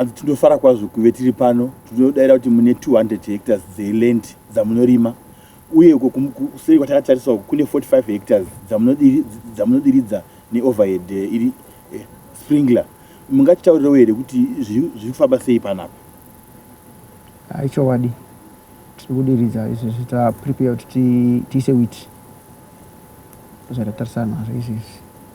hanzi tinofara kwazvo kuve tiri pano tinodaira kuti mune 200 hectares dzeland dzamunorima uye uko kuseri kwatakatariswa uku kune 45 hectares dzamunodiridza neoverhead eh, iri eh, sprinkler mungatitaurirewo here kuti zviri kufamba sei panapa aichowadi tiri kudiridza izvi zvitaprepare kuti tiise wit zvatatarisana zvaizvezvi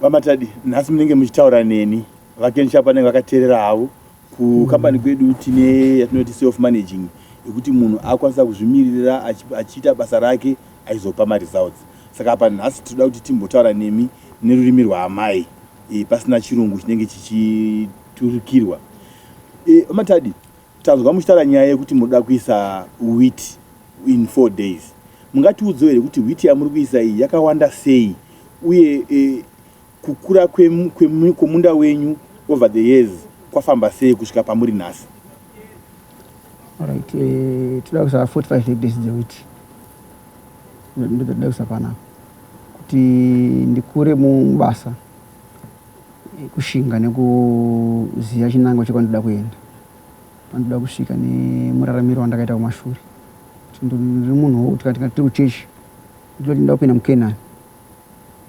VaMatadi, nhasi munenge muchitaura neni. VaKen Sharp vanenge vakateerera havo. Kukambani kwedu tine yatinoti self managing yekuti munhu akwanisa kuzvimiririra achiita basa rake aizopa maresults. Saka apa nhasi tinoda kuti timbotaura nemi nerurimi rwaamai e, pasina chirungu chinenge chichiturikirwa. E, VaMatadi, Tanzwa muchitaura nyaya yekuti munoda kuisa wheat in four days. Mungatiudzewo here kuti wheat yamuri kuisa iyi yakawanda sei uye eh, kukura kwemunda wenyu over the years kwafamba sei kusvika pamuri nhasi? Alright, eh, tinoda kuisa 45 hectares dzewheat ndotoda kuisa panapa kuti ndikure mubasa kushinga nekuziva chinangwa chekwandinoda kuenda pandinoda kusvika nemuraramiro wandakaita kumashure ndiri munhu wekuti kana tiri kuchechi ndinoti ndinoda kupinda mukenani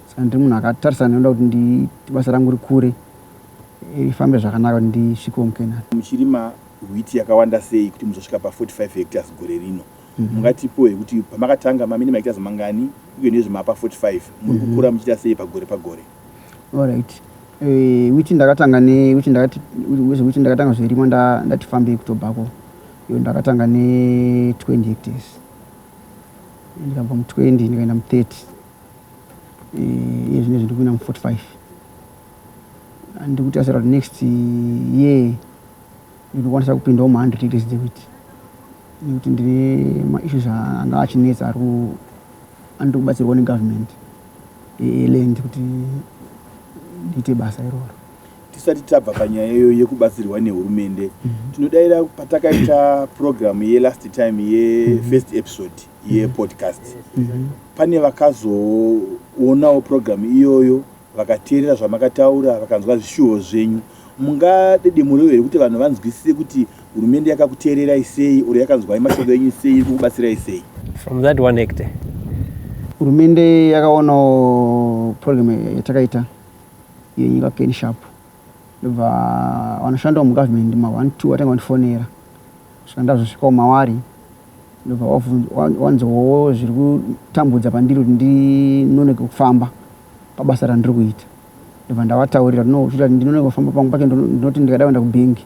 saka ndiri munhu akatarisana nekuda kuti basa rangu rikure ifambe zvakanaka kuti ndisvikewo mukenani muchirima wheat yakawanda sei kuti muzosvika pa 45 hectares gore rino Mungatipohe kuti pamakatanga mamini maita zvimangani uye nezve mapa 45 muri kukura muchiita sei pagore pagore? Alright. Eh, which ndakatanga ne which ndakati which ndakatanga zverimo nda ndati fambei kutobhako. Yo ndakatanga ne 20 hectares. Ndikabva mu 20 ndikaenda mu 30. Eh, iye zvine zvindikuina mu 45. Ndikuti asara next year Ndinokwanisa kupindawo mu 100 hectares dze wheat nekuti ndine ma issues anga achinetsa ari anoda kubatsirwa ne government e land kuti ndiite basa iroro. Tisati tabva panyaya iyoyo yekubatsirwa nehurumende, mm -hmm. tinodaira patakaita program ye last time ye mm -hmm. first episode ye mhm. podcast, mm -hmm. pane vakazoonawo program iyoyo Vakateerera zvamakataura vakanzwa zvishuvo zvenyu. Mungadedemurewo here kuti vanhu vanzwisise kuti hurumende yakakuteererai sei or yakanzwai mashoko enyu sei iri kukubatsirai sei? From that one hectare. Hurumende yakaonawo program yatakaita yenyika Ken Sharp ndobva vanoshandawo mugovernment ma one two vatanga vandifonera saka ndazosvikawo mawari ndobva wanzowo zviri kutambudza pandiri kuti ndinonoke kufamba pabasa randiri kuita ndobva ndavataurira ndinoita ndinoona kufamba pangu pacho ndinoti ndikada kuenda kubhengi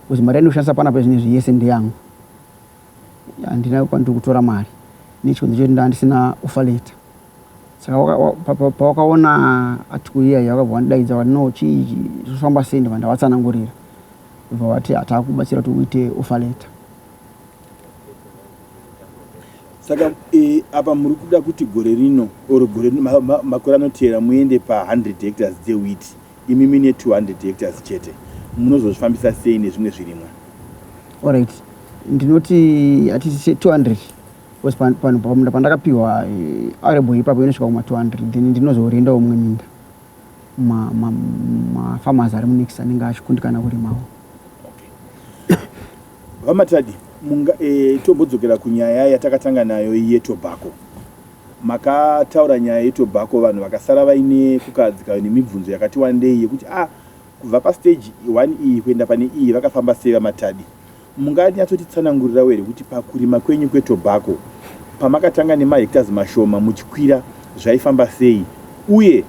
bcause mari yandikushandisa pana pezvine zve yese ndeyangu handina kwandiri kutora mari nechikonzo chekuti ndaa ndisina ofa leta saka pawakaona article iya iya wakabva wandidaidza wati no chii zvofamba sei ndobva ndavatsanangurira bva vati hatakubatsira kuti uite ofa leta saka e, apa muri kuda kuti gore rino or gore makore anoteera muende pa100 hectares dzewheat imi mine 200 hectares chete munozozvifambisa sei nezvimwe zvirimwa orit ndinoti hatiti 200 bcause panhu pamunda pandakapiwa eh, arebo ipapo inosvika kuma 200 then ndinozorendawo mumwe minda mafarmers ari munext anenge achikundikana kurimawo VaMatadi, munga, e, tombodzokera kunyaya yatakatanga nayo yetobhako. Makataura nyaya yetobhako vanhu vakasara vaine kukahadzika nemibvunzo yakati wandei yekuti a ah, kubva pastage 1 iyi kuenda pane iyi vakafamba sei VaMatadi. Munganyatsotitsanangurirawo here kuti pakurima kwenyu kwetobhako pamakatanga nemahectors mashoma muchikwira zvaifamba sei uye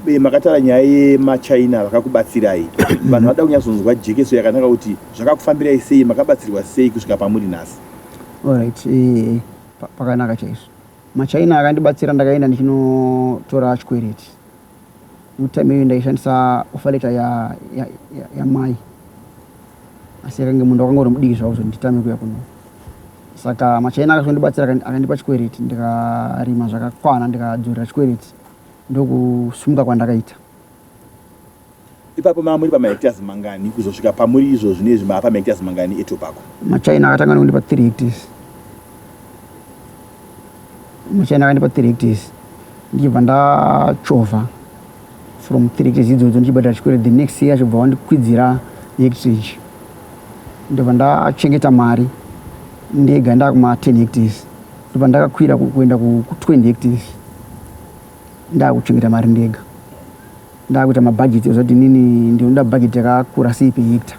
be makatara nyaya yemachaina vakakubatsirai vanhu vada kunyatsonzwa jekeso yakanaka kuti zvakakufambirai sei makabatsirwa sei kusvika pamuri nhasi orit eh, pakanaka chaizvo machaina akandibatsira ndakaenda ndichinotora chikwereti mutime iyo ndaishandisa ofaleta yamai asi yakange munhu wakanga uri mudiki zvavo zvonditame kuya kuno saka machaina akazondibatsira akandipa chikwereti ndikarima zvakakwana ndikadzorera chikwereti Ndokusumuka kwandakaita. Ipapo mava muri pamahectares mangani kuzosvika pamuri izvo zvinezvi mava pamahectares mangani etobacco? Machina akatanga nekundipa 3 hectares. Machina akandipa 3 hectares ndichibva ndachovha from 3 hectares idzodzo ndichibhadhara chikwere the next year achibva wandikwidzira hectage ndobva ndachengeta mari ndega ndakuma 10 hectares ndobva ndakakwira kuenda ku20 hectares ndakuchengeta mari ndega ndakuita mabhajeti ozati inini ndinoda bhajeti yakakura sei pehecta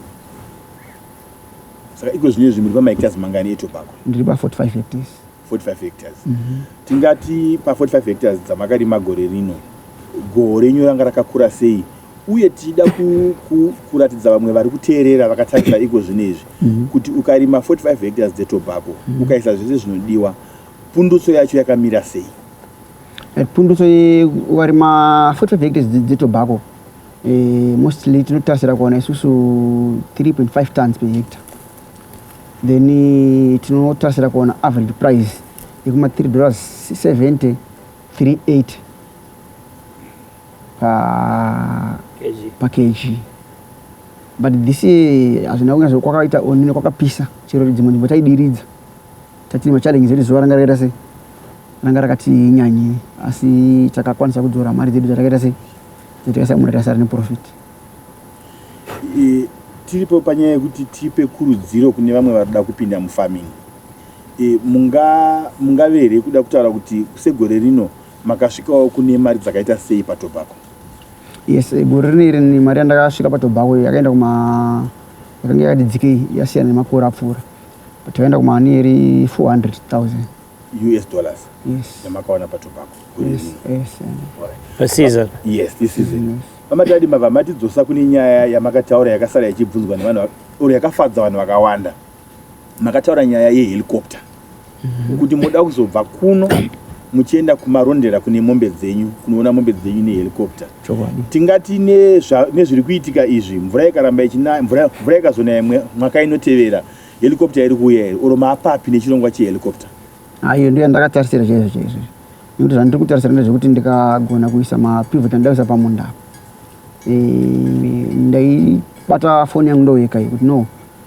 saka iko zvine zvimuri pamahectares mangani etobako ndiri pa45 hectares 45 hectares mm -hmm. tingati pa45 hectares dzamakarima gore rino goho renyu ranga rakakura sei uye tichida kuratidza vamwe vari kuteerera vakatarisa iko zvino izvi mhm. kuti ukarima 45 hectares dzetobacco mhm. ukaisa zvese zvinodiwa pundutso yacho yakamira sei eh, pundutso ukarima 45 hectares dzetobacco eh, mostly tinotarisira kuona isusu 3.5 tons per hectare then eh, tinotarisira kuona average price yekuma 3 dollars 70 38 pa pa kg but this year hazvina kunge zvo kwakaita onine kwakapisa chero dzimwe nzvimbo taidiridza tatine machallenges ekuti zuva ranga rakaita sei ranga rakati nyanyei asi takakwanisa kudzora mari dzedu dzatakaita sei dzatakaisa mura tasara neprofit e, tiripo panyaya yekuti tipe kurudziro kune vamwe vari kuda kupinda mufarming e, mungave here kuda kutaura kuti segore rino Makasvikawo kune mari dzakaita sei patobacco? Yes, eh, gore rineri ni mari yandakasvika patobacco yakaenda kuma yakanga yakati dzikei yasiyana nemakore apfuura but yakaenda kuma nearly 400,000 US dollars yes. yamakawana patobacco gore yes, rineri. yes, eh. Pasizon. Yes, this is it. Pamatadi mava matidzosa kune nyaya yamakataura yakasara ichibvunzwa nevanhu va- or yakafadza vanhu vakawanda. makataura nyaya yehelicopter mhm. kuti moda kuzobva kuno muchienda kumarondera kune mombe dzenyu kunoona mombe dzenyu nehelicopter tingati nezviri kuitika izvi mvura ikaramba ichinaya mvura ikazonaya mwaka inotevera helicopter iri kuuya here oro maapapi nechirongwa chehelicopter ayo ndiyo ndakatarisira chaizvo chaizvo nekuti zvandiri kutarisira ndezvekuti ndikagona kuisa mapivot andaisa pamunda apo eh, ndaibata foni yangu ndoyeka yekuti no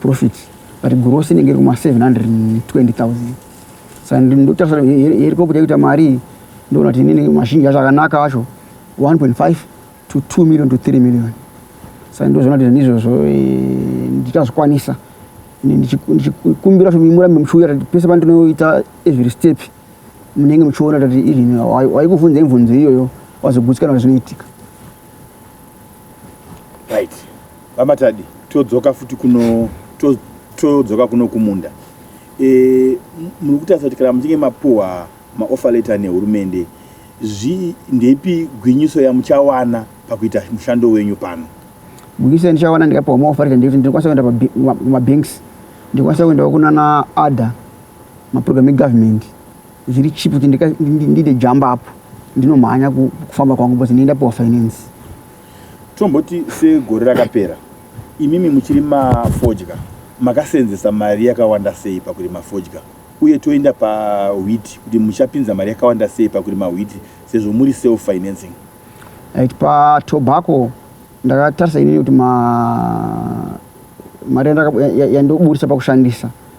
profit but gross inenge iri kuma 720000 saka ndotarisa herikoputa yekuita mari ndoona kuti inini mashinji acho akanaka acho 1.5 to 2 million to 3 million saka ndozoona kuti ndizvozvo eh, ndichazvikwanisa ndichikumbira kuti murambe muchiuya kuti pese pandinoita every step munenge muchiona kuti even waikuvhunza imvunzo iyoyo wazogutsikana kuti zvinoitika right vamatadi todzoka futi kuno todzoka kuno kumunda e, muri kutarisa kuti kana muchinge mapuwa maofa letter nehurumende zvi ndeipi gwinyiso yamuchawana pakuita mushando wenyu pano gwinyiso yandichawana ndikapuwa maofa letter ndekuti ndinokwanisa kuenda pamabanks ndikwanisa kuendawo kunana ada maprogram egovernment zviri cheap kuti ndide jump up ndinomhanya kufamba kwangu bcause ndinda piwa finance tomboti segore rakapera imimi muchiri mafodya makaseenzesa mari yakawanda sei pakurima fodya uye toenda pawhiti kuti muchapinza mari yakawanda sei pakurima whiti sezvo muri self financing right patobacco ndakatarisa inini kuti mari yandoburitsa pakushandisa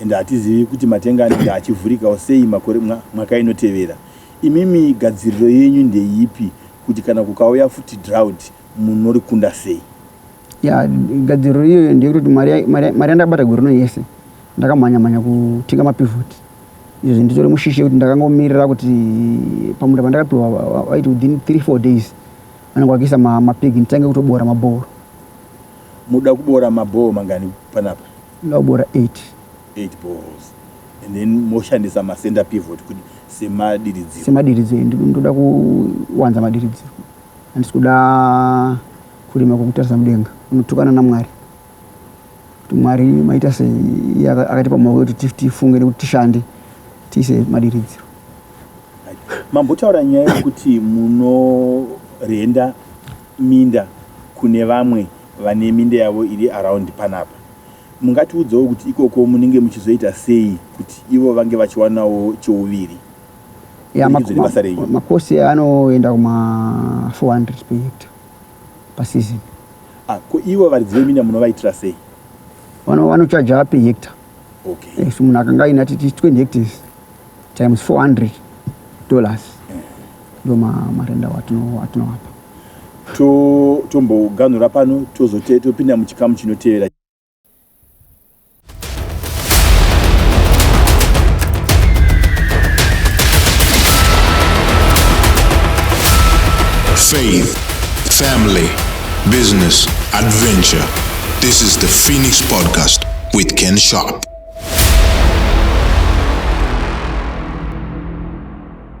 and hatizivi kuti matenga anenge achivhurikawo sei makore mwa, mwaka inotevera. Imimi gadziriro yenyu ndeipi kuti kana kukauya futi drought munorikunda sei? Ya, gadziriro iyoyo ndeyekuti mari mari yandakabata gore rino yese ndakamhanya mhanya kutenga mapivot izvi nditori mushishi yekuti ndakangomirira kuti pamunda pandakapiwa vaiti within three four days vanenge vakiisa mapig nditange kutobora mabhoro muda kubora mabhoo mangani panapa Unobora 8. 8 boreholes and then moshandisa macenter pivot kuti semadiridziro. Semadiridziro ndoda kuwanza madiridziro handisi kuda kurima kwekutarisa mudenga unotukana namwari kuti mwari maita sei iye akatipa maoko kuti tifunge nekuti tishande tiise madiridziro mambotaura nyaya yekuti munorenda minda kune vamwe vane minda yavo iri around panapa mungatiudzawo kuti ikoko munenge muchizoita sei kuti ivo vange vachiwanawo cheuviri Ya, Kuburikidza mak- nebasa renyu. mak- makosi anoenda kuma 400 per hectare pasizini ah, ko ivo varidzi veminda munovaitira sei Vano- vanochaja per hectare okay Eh, so munhu akanga aina titi 20 hectares times 400 dollars ndo ma- marenda watino- watinowapa tomboganhura pano tozotopinda muchikamu chinotevera faith family business adventure this is the phoenix podcast with ken sharp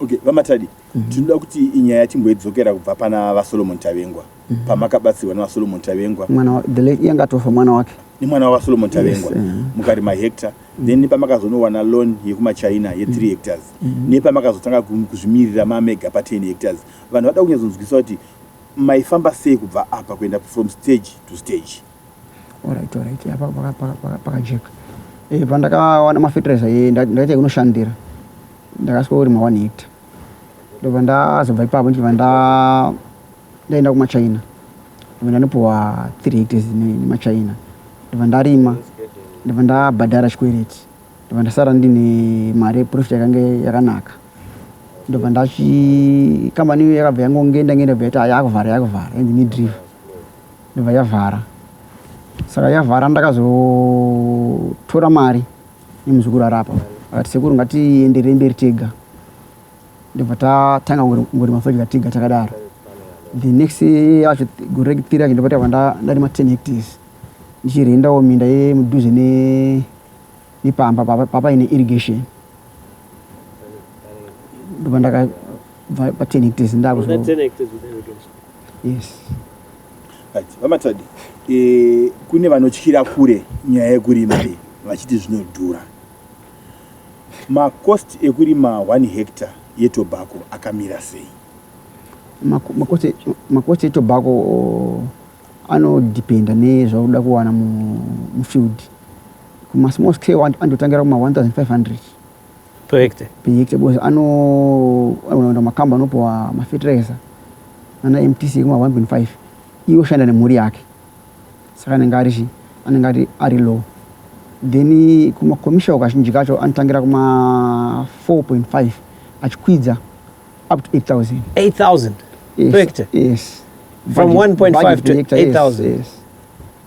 Okay, vamatadi mm -hmm. tinoda kuti inyaya timboidzokera kubva pana vasolomon tavengwa mm -hmm. pamakabatsirwa nevasolomon tavengwa mwana yanga atofa mwana wake nemwana wavasolomon tavengwa yes, uh -huh. mukari mahecta mm -hmm. then nepamakazonowana loan yekumachina ye 3 mm -hmm. hectars mm -hmm. nepamakazotanga kuzvimirira mamega pa 10 hectars vanhu vada kunyazonzwisa kuti maifamba sei kubva apa kuenda from stage to stage Alright, alright. Apa paka paka paka paka jack. Eh, pandakawana ma fertilizer ye ndaita kunoshandira. Ndakasvika uri ma 1 hectare. Ndobva ndazobva ipapo ndichibva nda ndaenda kuma China. Ndobva ndanopuwa 3 hectares ne ma China. Ndobva ndarima. Ndobva ndabhadhara chikwereti. Ndobva ndasara ndine mari profit yakange yakanaka. Ndobva ndachi company yakabva yangonge ndangenda beta yakuvhara yakuvhara and ni drive. yobva yavhara saka yavhara ndakazotora mari nemuzukuru arapa akati sekuru ngatienderei mberi tega ndobva tatanga kungorima fodya tega takadaro the next yacho gore rekutiri yacho ndobva tava ndarima ten hectares ndichirendawo minda yemudhuze nepamba papa ine irrigation ndobva ndakabva pa ten hectares ndakuzo yes right vamatadi e, kune vanotyira kure nyaya yekurima iyi vachiti zvinodhura makost ekurima 1 hectare yetobacco akamira sei makost etobacco oh, anodependa nezvaunoda kuwana mufield kumasmall scale andotangira kuma 1500 Pehekte. Pehekte because anoenda makamba anopiwa mafetiraiza ana MTC ekuma 1.5 iwo shanda nemhuri yake saka anenge ari chi anenge ari ari low then kuma commercial kazhinji kacho anotangira kuma 4.5 achikwidza up to 8000 8000 yes, per hectare yes from 1.5 to 8000 yes, yes.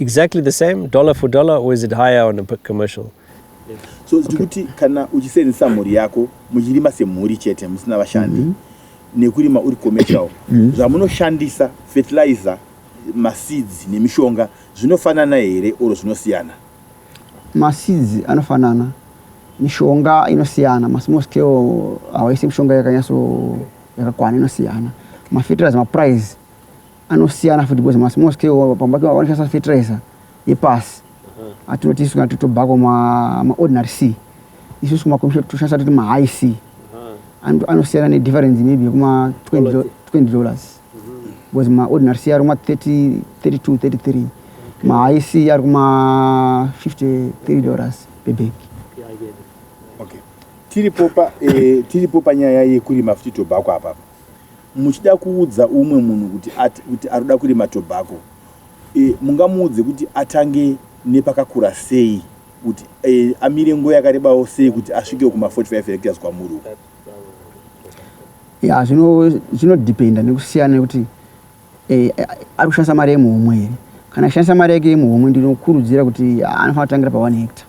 exactly the same dollar for dollar or is it higher on a commercial so zvikuti okay. kana uchisenzesa mhuri yako muchirima semhuri chete musina vashandi mm -hmm. nekurima uri commercial mhm. zvamunoshandisa mm -hmm. fertilizer maseeds nemishonga zvinofanana here or zvinosiyana maseeds anofanana mishonga inosiyana masmall scale hawaisi mishonga yakanyatso yakakwana inosiyana mafertilizer maprice anosiyana futi because mas most wo pamba kwa wanisa fertilizer yepasi uh-huh. atinoti isu kana totobhako ma ma ordinary sea isu kuma komisha tushasa tuti ma high sea uh-huh. antu anosiyana ne difference maybe kuma 20 20 dollars uh-huh. because ma ordinary sea aruma 30 32 33 ma high sea aruma 53 dollars per bag okay tiripo pa eh, tiripo panyaya yekurima futi tobhako apapa Muchida kuudza umwe munhu kuti at, kuti ari kuda kurima tobacco e, mungamuudze kuti atange nepakakura sei kuti e, amire nguva yakarebawo sei kuti asvikewo kuma 45 hectares kwamuri uko ya zvinodependa nekusiyana nekuti e, ari kushandisa mari yemuhomwe here kana achishandisa mari yake yemuhomwe ndinokurudzira kuti anofanira kutangira pa 1 hectare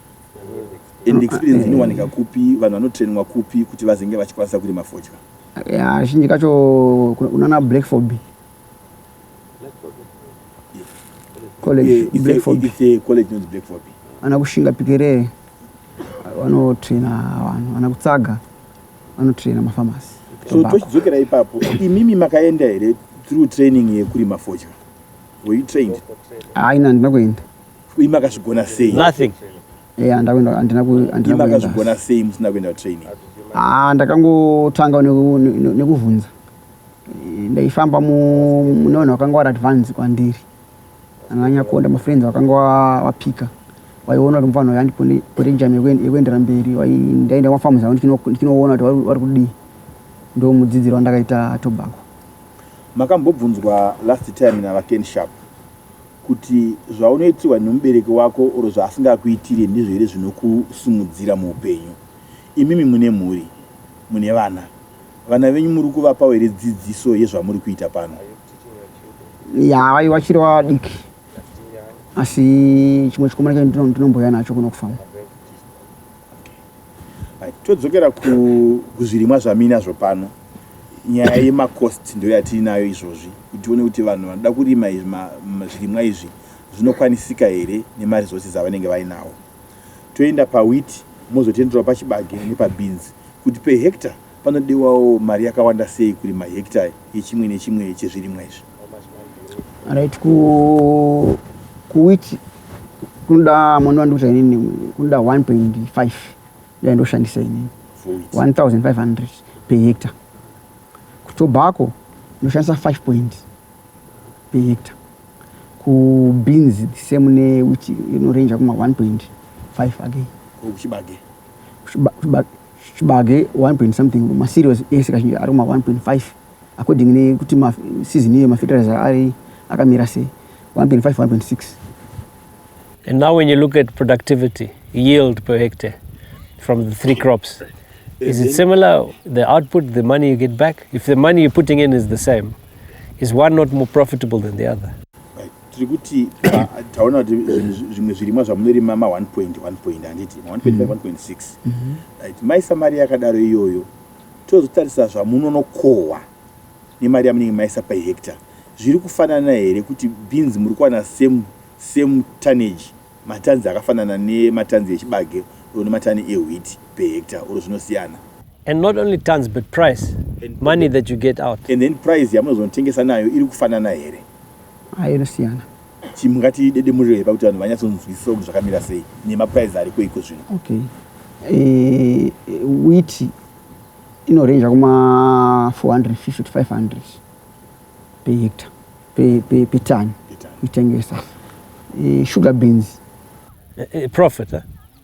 And experience inowanika kupi vanhu vanotrainwa kupi kuti vazenge vachikwanisa kurima fodya? Yeah, zhinji kacho kunana Black Fobi. College yeah, Black Fobi. It's a college known Black Fobi. Ana kushinga pikere vanotraina vanhu, ana kutsaga vanotraina mafamasi. So tochidzokera ipapo, imimi makaenda here through training yekurima fodya? Were you trained? Haina, ndina kuenda. Imi makazvigona sei? Nothing. Yeah, ndakwenda andina ku andina. Imi makazvigona sei musina kuenda training? Ah, ndakangotanga nekuvhunza. Eh, ndaifamba mune vanhu vakanga vari advance kwandiri. Ananya kuonda mafriends vakanga wapika. Waiona kuti mfana yandi kune kune jam yekuendera mberi. Wai ndaenda kwa farms aunti kino kinoona kuti vari kudii. Ndo mudzidziro wandakaita tobacco. Makambobvunzwa last time na Ken Sharp. Kuti zvaunoitirwa nemubereki wako or zvaasingakuitire ndizvo here zvinokusimudzira muupenyu? Imimi mune mhuri, mune vana. Vana venyu muri kuvapawo here dzidziso yezvamuri kuita pano? Yaa vaive vachiri vadiki asi chimwe chikomana chacho ndinomboya nacho kuno kufarm. todzokera kuzvirimwa zvamina zvo pano nyaya yemacost ndo yatiinayo izvozvi kuti tione kuti vanhu vanoda kurima zvirimwa izvi zvinokwanisika here nemaresources avanenge vainawo toenda pawit mozotenderwa pachibage nepabeans kuti pehecta panodewawo mari yakawanda sei kurima hecta yechimwe nechimwe chezvirimwa izvi right ku kuwit kunoda mwana wandiuza inini kunoda 1.5 dai ndoshandisa inini 1500 per hectare kutobhako ndoshandisa 5 point per hectare kubeans the same newit inorenja kuma 1.5 again kuchibage kuchibage 1 point something maserious ese kazhinji ari kuma 1.5 according nekuti season iyo mafertilizer ari akamira sei 1.5 1.6 and now when you look at productivity yield per hectare from the three crops is it similar the output the money you get back if the money you're putting in is the same is one not more profitable than the other tiri kuti taona kuti zvimwe zvirimwa zvamunorima ma 1 point 1 point handiti ma 1 point 5 1 point 6 right maisa mari yakadaro iyoyo Tozotarisa zvamunonokohwa nemari yamunenge maisa per hectare. Zviri kufanana here kuti beans muri kuwana same same tonnage, matans akafanana nematans echibage or nematani ewheat per hectare or zvinosiyana? And not only tons but price, And- money that you get out. And then price yamunozonotengesa nayo iri kufanana here? Ayo inosiyana. Chimu ngatidedemurire hepa kuti vanhu vanyatsonzwisisa kuti zvakamira sei nemaprize ariko iko zvino. Okay. Eh, wheat inorenja kuma 450 to 500 per hectare per, per, per ton kuitengesa. Eh, sugar beans. Eh, eh, profit, eh?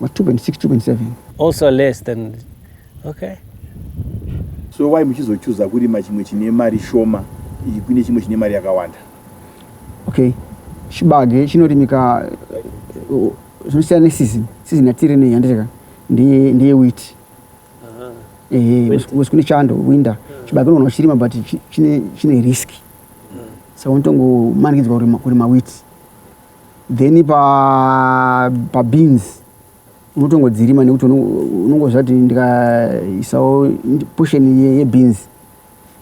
Ma 2.6 2.7 also less than okay so why muchizochuza kurima chimwe chine mari shoma kune chimwe chine mari yakawanda okay chibage chinorimika uh, zvinosiyana neseason season yatiri nei handiteka ndiye ndiye wheat ehe wes kune chando winter chibage unoona uchirima but chine chine risk mm. saka unotongo manikidzwa kurima wheat then pa pa beans unotongodzirima nekuti unongoziva kuti ndikaisawo portion yebeans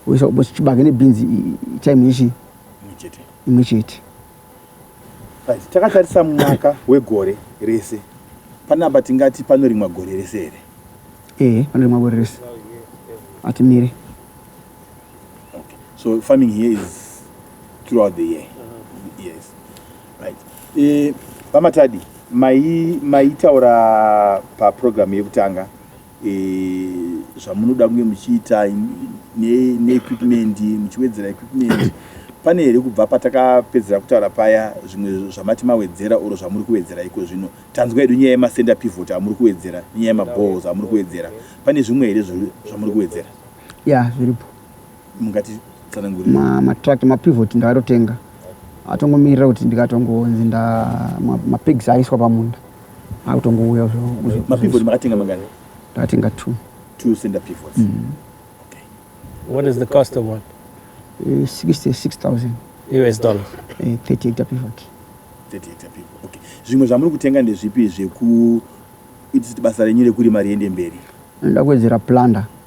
oisa chibage nebeans time ichi imwe chete takatarisa mwaka wegore rese panapa tingati panorimwa gore rese here ee panorimwa gore rese atimire Okay. So farming here is throughout the year. Uh-huh. Yes. Right. Eh, Vamatadi, mai maitaura pa program yekutanga eh, zvamunoda kunge muchiita neequipment ne muchiwedzera equipment pane here kubva patakapedzera kutaura paya zvimwe zvamati mawedzera oro zvamuri kuwedzera iko zvino tanzwa yedu nyaya yemasender pivot amuri kuwedzera nyaya yemaballs amuri kuwedzera pane zvimwe here zvamuri kuwedzera ya zviripo mungati tsanangurira ma matract mapivot ndakatotenga atongomirira kuti ndikatongonzi nda mapigs ma aiswa pamunda akutongouya mapivot makatenga mangani ndakatenga two two center pivots mm. okay. what is the cost of one uh, eh, 66000 us dollars uh, eh, 30 hectare pivot 30 hectare pivot okay zvimwe zvamuri kutenga ndezvipi zveku itisi basa renyu rekurima riende mberi ndakuwedzera plunder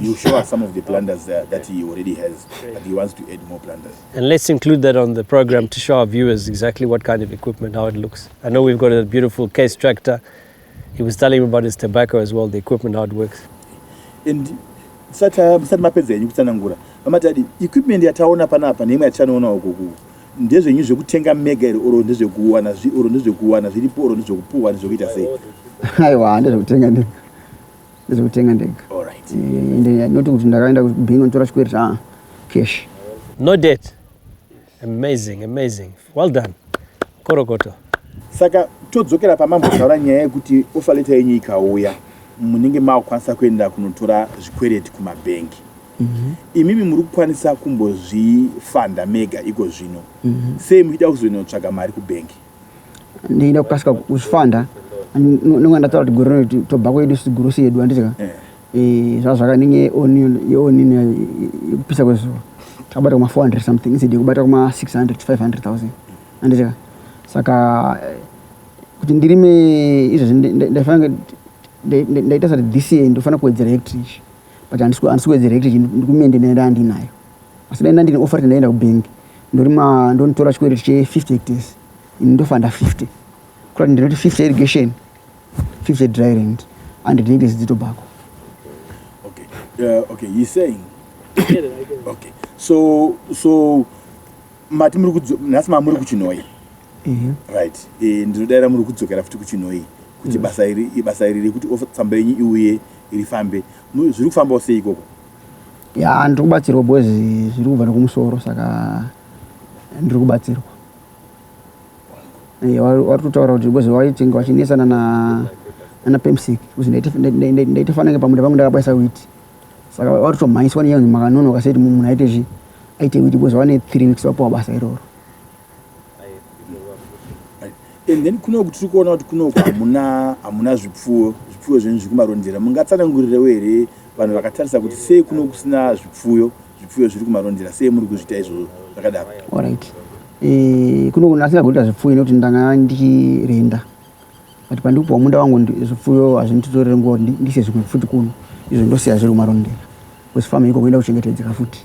You show us some of the planters there that he already has, but he wants to add more planters. And let's include that on the program to show our viewers exactly what kind of equipment, how it looks. I know we've got a beautiful case tractor. He was telling me about his tobacco as well, the equipment, how it works. And sati mapedza yenyu kutsanangura vamatadi equipment yataona panapa neimwe yatichanoona uko kuku ndezvenyu zvekutenga mega here oro ndezvekuwana oro ndezvekuwana zviripo oro ndezvekupuhwa ndezvekuita sei aiwa ndezvekutenga ndega Ndozotenga ndega. Alright. Eh, ende not kuti ndakaenda kubhingo ndotora chikwereti ah cash. No debt. Amazing, amazing. Well done. Korokoto. saka todzokera pamambotaura nyaya yekuti offer letter yenyu ikauya munenge makukwanisa kuenda kunotora zvikwereti kumabhengi imimi muri kukwanisa kumbozvifanda mega iko zvino sei muchida kuzonotsvaga mari kubhengi ndeyida kukasika kuzvifanda nonga ndataura kuti gore rino tobva kwedu sigurusi yedu anditi ka eh. eh, zvazvakanenge yeonini yayo yekupisa kwezuva takabata kuma 400 something instead yekubata kuma 600 to 500 thousand anditi ka saka eh, kuti ndirime izvezvi ndaifanira ndaita sati this year ndofanira kuwedzera hectrich but handisi kuwedzera hectrich ndikumende nenda andinayo asi dai ndandine offer ndaenda kubank ndorima ndonitora chikwereti che 50 hectares ini ndofanda 50 kuta kuti ndinoti 50 irrigation 50 dry land and hectares dzitobhako okay uh, okay he saying okay so so mati muri kudzo nhasi mamuri kuchinoi right eh, ndinodaira muri kudzokera futi kuchinoi kuti basa iri ibasa iri rekuti offer tsamba yenyu iuye rifambe zviri kufambawo sei ikoko ya ndiri kubatsirwa boys zviri kubva nekumusoro saka ndiri kubatsirwa eh, wari kutaura kuti boys vaitenge vachinesana na ana pemsik kuti ndaita fanange pamunda pangu ndakabaisa witi saka wari kutomhanyiswa nenyaya kuti makanonoka seti munhu aite zvi aite witi boys vane three weeks vapuwa basa iroro and then kunoku tiri kuona kuti kunoku hamuna hamuna zvipfuwo zvipfuyo zvenyu zviri kumarondera mungatsanangurirewo here vanhu vakatarisa kuti sei kuno kusina zvipfuyo zvipfuyo zviri kumarondera sei muri kuzviita izvozvo zvakadaro orit eh, kuno kunasira kuita zvipfuyo nekuti ndanga ndirenda but pandiri kupiwa munda wangu zvipfuyo hazvinditotorere nguva kuti ndise zvimwe futi kuno izvo ndosiya zviri kumarondera kwesifama iko kuenda kuchengetedzeka futi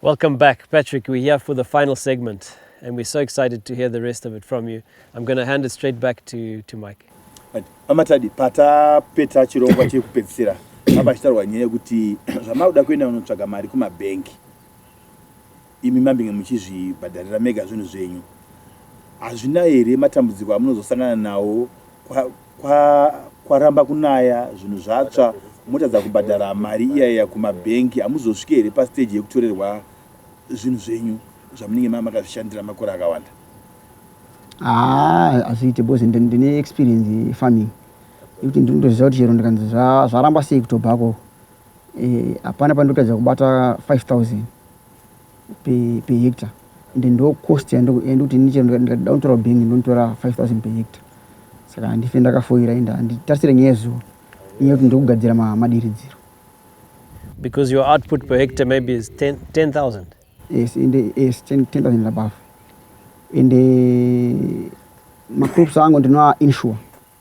Welcome back, Patrick. We're here for the final segment, and we're so excited to hear the rest of it from you. I'm going to hand it straight back to, to Mike. amatadi patapeta chirongwa chekupedzisira apa chitaurwa nyaya yekuti zvamakuda kuenda unotsvaga mari kumabhengi imi mambinge muchizvibhadharira mega zvinhu zvenyu hazvina here matambudziko amunozosangana nawo Kwa, kwaramba kunaya zvinhu zvatsva motadza kubhadhara mari iya iya kumabhengi hamuzosvike here pastage yekutorerwa zvinhu zvenyu zvamunenge mava makazvishandira makore akawanda haa ah, azviite because ndine experience yefarming yekuti ndinotoziva kuti chero ndikanzi zvaramba sei kutobhako eh, hapana pandotadza kubata 5000 per hectare and ndo cost yandokuti ini chero ndikada kutora bank ndinotora 5000 per hectare saka handife ndakafoira ende handitarisire nyaya yezuva nyaya yekuti ndiri kugadzira madiridziro because your output per hectare maybe is 10000 yes ende yes 10000 above ende macrops angu ndinoa insure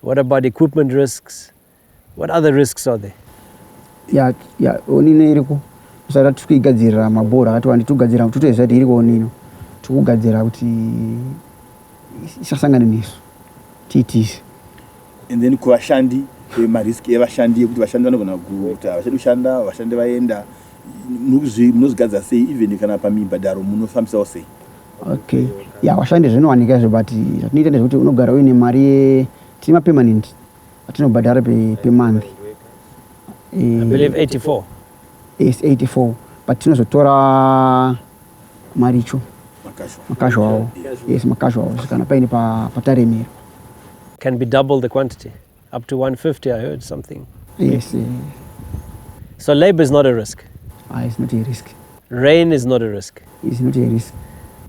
What about equipment risks? What other risks are there? Ya, ya, onino iriko. Saka tikugadzirira mabhora akati wandi tugadzirira kuti toziva kuti iriko onino. Tikugadzirira kuti isasangane nesu. Tiitise. And then kuvashandi marisk evashandi ekuti vashandi vanogona kuta vachadi kushanda vashandi vaenda munozvigadzira sei even kana pamibhadharo munofambisawo sei Okay. Yeah, washandi zvinowanika izvo but zvatinoita ndezvekuti unogara uine mari ye tine mapermanent atinobhadhara pe, pe month. Eh, I believe 84. yes, 84 but tinozotora maricho makazho awo yes makazho awo kana paine pa, pataremera Can be double the quantity. Up to 150, I heard something. Yes. yes. So labor is not a risk. Ah, it's not a risk. Rain is not a risk. It's not a risk.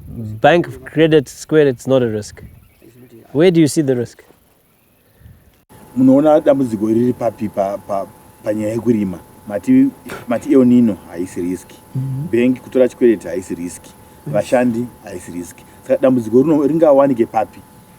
Bank credit square, it's not a risk. Where do you see the risk? munoona dambudziko riri papi panyaya yekurima mati mati eonino haisi riski mhm. bank kutora chikwereti haisi riski vashandi haisi riski saka dambudziko rino ringawanike papi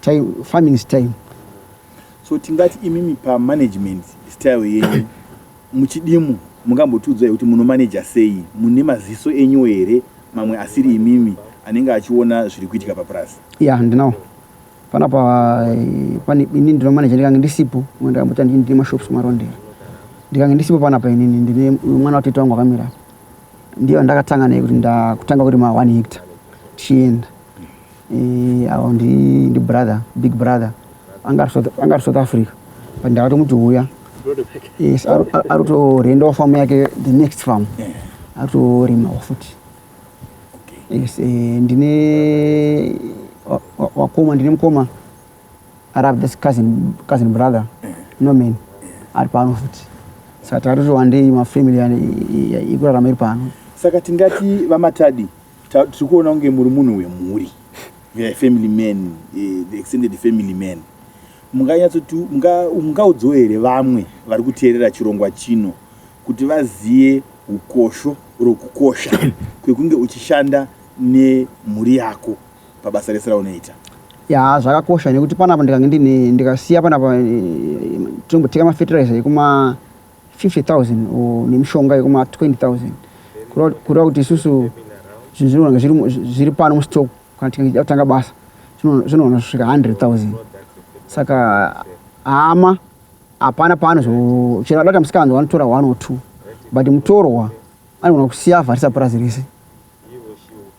time farming is time so tingati imimi pa management style yenyu muchidimu mungambotiudzai kuti munomanaja sei mune maziso enyu here mamwe asiri imimi anenge achiona zviri kuitika papurazi ya yeah, ndinawo panapa eh, pane ini ndinomanaja ndikange ndisipo ndikambota ndii ndine mashops marondera ndikange ndisipo panapa inini ndine mwana watete wangu akamira ndiyo ndakatanga naye kuti ndakutanga kurima one hectare tichienda Eh, awo ndi ndi brother big brother anga ari south anga ari south africa but ndakati muti huya yes ari to renda wa farm yake the next farm ari to rima wa futi yes eh, ndine wa koma ndine mkoma ari have this cousin cousin brother no man ari pano futi saka tari to wande ma family ikurarama iri pano saka tingati vamatadi tiri kuona kunge muri munhu wemhuri family man eh, the extended family man munganyatsoti mungaudzawo here vamwe vari kuteerera chirongwa chino kuti vazive ukosho rokukosha kwekunge uchishanda nemhuri yako pabasa rese raunoita ya zvakakosha nekuti panapa ndikange ndine ndikasiya panapa eh, eh, tinomboteka mafertilizer ekuma 50,000 or nemishonga yekuma 20,000 kureva kuti isusu zvinhu zvinogona zviri pano mustock kana tikaiita kutanga basa zvinogona kusvika 100,000 saka hama hapana pano chero adata musikanzi wanotora one or two but mutorwa anogona kusiya avharisa purazi rese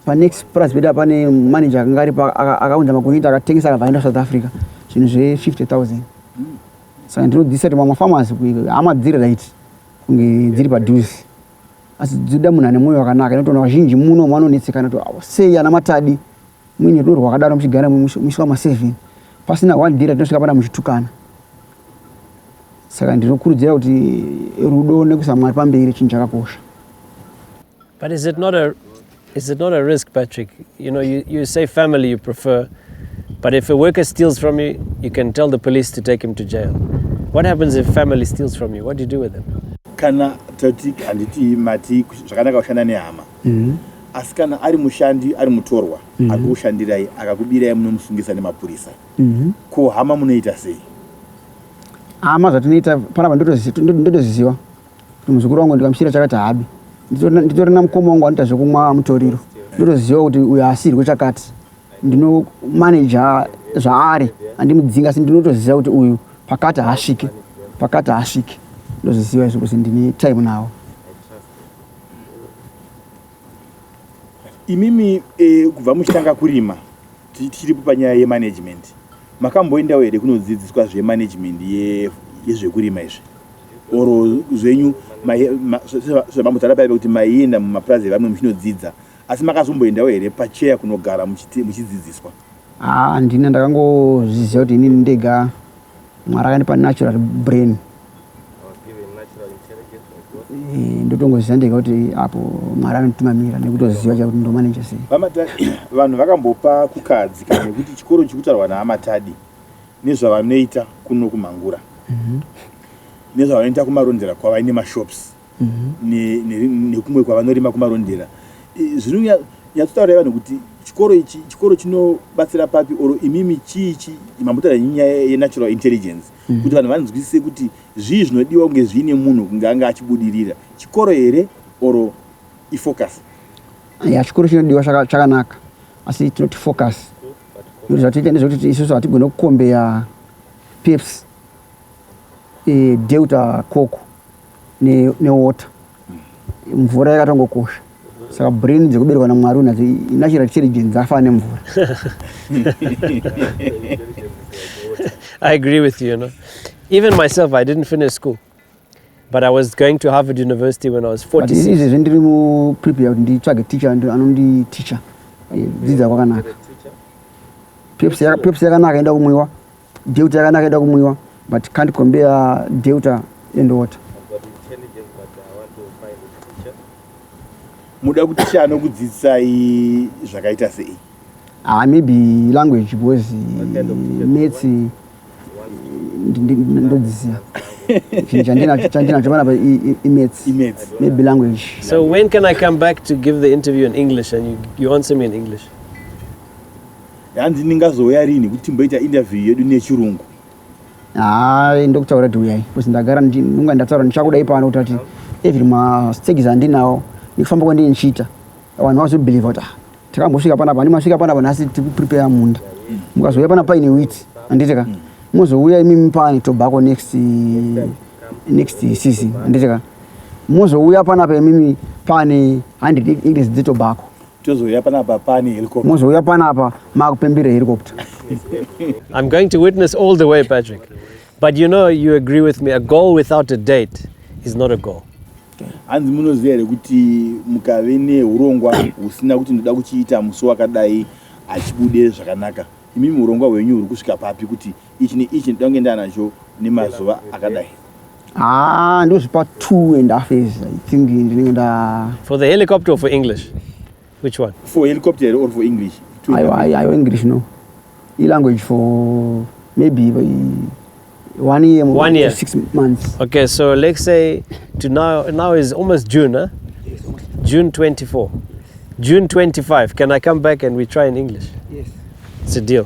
panext purazi pedu apane manager akanga aripo akaunza makunyita akatengesa akabva aenda south africa zvinhu zve-50 000 saka ndinodhisa kuti mamwe farmers hama dziri right kunge dziri padhuzi asi dzinoda munhu ane mwoyo wakanaka inotoona vazhinji muno vanonetsekana kuti oh, sei ana matadi muine rudo rwakadaro muchigara musi wamaseven pasina one dira tinosvika pana muchitukana saka ndinokurudzira kuti rudo nekuisa mwari pamberi chinhu chakakosha but is it not a is it not a risk patrick you know you, you say family you prefer but if a worker steals from you you can tell the police to take him to jail what happens if family steals from you what do you do with them kana tati handiti mati zvakanaka kushanda nehama mm-hmm. asi kana ari mushandi ari mutorwa mm-hmm. akukushandirai akakubirai munomusungisa nemapurisa Mhm. Ko hama munoita sei? Hama zvatinoita panapa ndotozi- ndo- ndotoziziva kuti muzukuru wangu ndikamushira chakati haabi Nditori- nditori namukoma wangu anoita zvekumwa mutoriro ndotoziva kuti uyu haasirwe chakati ndinomaneja zvaari andimudzinga asi ndinotoziva kuti uyu pakati haasvike pakati haasvike ndozviziva izvo kuti ndine time nawo Imimi eh, kubva muchitanga kurima tichiripo panyaya yemanagement makamboendawo here kunodzidziswa zvemanagement yezvekurima izvi or zvenyu zvamambotaura paive kuti maienda mumapurazi evamwe muchinodzidza asi makazomboendawo here pacheya kunogara muchidzidziswa Haa ndini ndakangozviziva kuti inini ndega mwari akandipa natural brain Eh, ndotongoziva ndega kuti apo mwari anotimamira nekutoziva chakuti ndomaneja sei vanhu vakambopa kukadzi kana nekuti chikoro chikutaurwa naamatadi nezvavanoita kuno kumhangura mhm. nezvavanoita kumarondera kwavaine mashops nekumwe kwavanorima kumarondera zvinonyatsotaura ivanhu kuti chikoro ichi chikoro chinobatsira papi or imimi chii chi mambotaura nyaya yenatural intelligence mm. kuti vanhu vanzwisise kuti zvii zvinodiwa kunge zviine munhu kunge anga achibudirira chikoro here or ifocus ya chikoro chinodiwa chakanaka asi tinoti focus nekuti zvatoita nezvekuti isusu hatigone kukombeya peps e, eh, delta coco newater mvura yakatongokosha saka brain dzekuberekwa namwari unadzo natural intelligence afana nemvura i agree with you, you know? even myself i didn't finish school but i was going to harvard university when i was 46izvezvi ndiri muprepare kuti nditsvage teacher anondi teacher eh, dzidza kwakanaka peps yakanaka enda kumwiwa Deuter yakanaka ida kumwiwa but can't compare Deuter and water. Muda kuti chii anokudzidzisai zvakaita sei? Ah, maybe language because maths ndodziziva chandinacho panapa imaths maybe language so when can i come back to give the interview in english and you, you answer me in english Hanzi ndingazouya rini kuti timboita interview yedu nechirungu? Haa ndokutaura kuti uyai because ndagara ndinonga ndataura ndichakuda ipano kuti ati every mastages andinawo nekufamba kwandine ndichiita vanhu vazobelieve kuti ah, takambosvika panapa handi masvika panapa nhasi tiri kuprepare munda mukazouya panapa paine wit handiti ka mozouya imimi pane tobacco next next season handiti ka mozouya panapa imimi pane 100 acres dzetobacco tozouya panapa pane helicopter mozouya panapa makupembera helicopter i'm going to witness all the way patrick but you know you agree with me a goal without a date is not a goal hanzi munoziva here kuti mukave neurongwa husina kuti ndoda kuchiita musi wakadai hachibude zvakanaka imimi urongwa hwenyu huri kusvika papi kuti ichi neichi ndoda kunge ndaanazvo nemazuva akadai Ah, ndozvipa two and half years i think ndinenge nda for the helicopter or for english which one for helicopter or for english ayo english no ilanguage for maybe one year one year six months okay so let's say to now now is almost june huh? yes. june 24 june 25 can i come back and we try in english yes it's a deal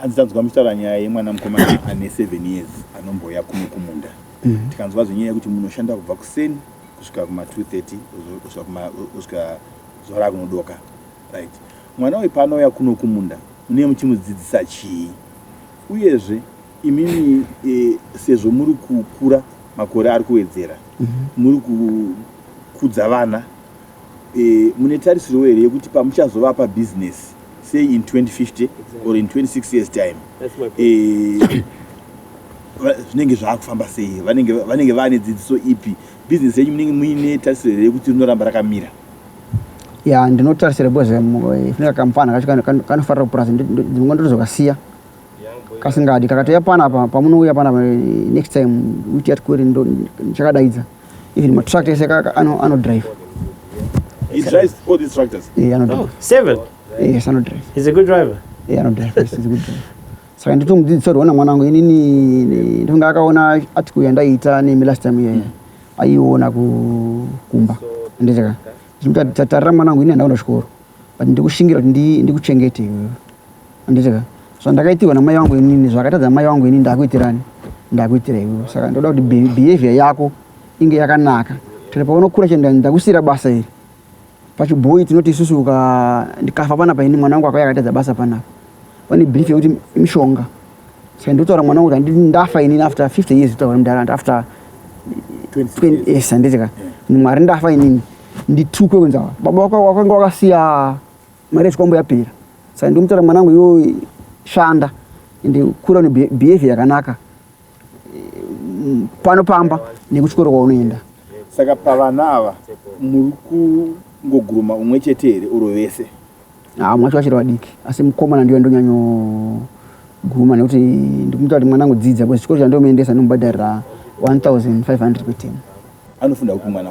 hanzi tanzwa muchitaura nyaya yemwana mukomana ane seven years anombouya kuno kumunda mm. tikanzwa zvenyaya yekuti munoshanda kubva kuseni kusvika kuma 230 kusvika zuva rakunodoka right mwana uyu paanouya kuno kumunda munee muchimudzidzisa chii uyezve imimi e, sezvo muri kukura makore ari kuwedzera mm -hmm. muri kukudza vana Mune tarisirwo here yekuti pamuchazovapa business say in 2050 or in 26 years time zvinenge zvaakufamba sei vanenge vane dzidziso ipi business yenyu munenge muine tarisiro here yekuti rinoramba rakamira ya ndinotarisira because funeka kamfana kacho kanofarira kupurazi ndimwe ndinozokasiya kasingadi kakatouya panapa pamunouya panapa next time uti yatikuri ndichakadaidza pa, even matractor ese kaka ano ano drive he drives all these tractors yeah ano drive oh, seven yes ano drive he's a good driver yeah ano drive yes, he's a good driver saka ndito mudzidzisa kuti ona mwana wangu inini ndinonga akaona article yandaiita nemi last time iyeya aiona kumba ndizaka ndimuti tatarira mwana wangu ini handaona chikoro but ndikushingira kuti ndikuchengete iwewe Anditika zvandakaitirwa namai vangu inini zvakatadza mai vangu inini ndakuitirani ndakuitira iwewe saka ndoda kuti behavior yako inge yakanaka tiri paunokura chenda ndakusira basa iri pachibhoyi tinoti isusu uka ndikafa pana paini mwana wangu akauya akatadza basa panapa pane brief yekuti mishonga saka ndotaura mwana wangu kuti ndafa inini after 50 years kutaura mudhara after 20 yes handitika mwari ndafa inini nditukwe kunzawa baba wako wakanga wakasiya mari yechikwambo yapera saka ndikumutaura mwanangu iwe shanda ende kura une behavior yakanaka pano pamba nekuchikoro kwaunoenda saka pavana ava muri kungoguruma umwe chete here uro vese haa mwacho vachiri vadiki asi mukomana ndiyo ndonyanyoguruma nekuti ndikumuta kuti mwana angodzidza bcause chikoro chandomuendesa ndomubhadharira 1500 kwetemu anofunda kupi mwana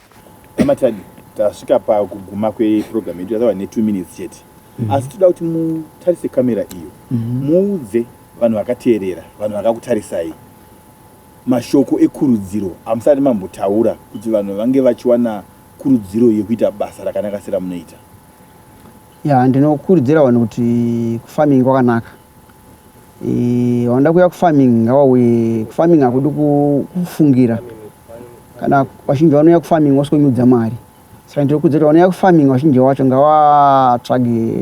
Amatadi tasvika pakuguma kweprogram yedu yatava ne two minutes chete mm -hmm. asi toda kuti mutarise kamera iyo mm -hmm. muudze vanhu vakateerera vanhu vakakutarisai mashoko ekurudziro amusati mambotaura kuti vanhu vange vachiwana kurudziro yekuita basa rakanaka seramunoita ya ndinokurudzira vanhu kuti kufarming kwakanaka Eh, wanda kuya kufarming ngawauye kufarming hakudi kufungira kana vazhinji vanouya kufarming wasikunyudza mari saka ndiri kudza kuti vanouya kufarming vazhinji wacho ngavatsvage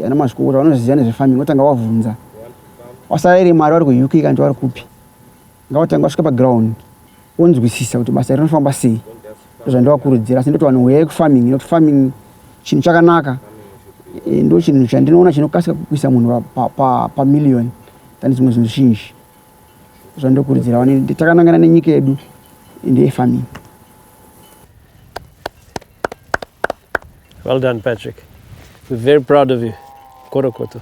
ana mazvikokota vanoziva nezvefarming votanga vavhunza wasaraire mari vari kuuk kana kuti vari kupi Ngavatange vasvika paground wonzwisisa kuti basa rinofamba sei ndozvandovakurudzira asi ndoti vanhu huyai kufarming nekuti farming chinhu chakanaka eh, ndo chinhu chandinoona chinokasika kukuisa munhu pamillion tane dzimwe zvinhu zhinji zvandokurudzira vane takanangana nenyika yedu ndeyefarming well done patrick we're very proud of you korokoto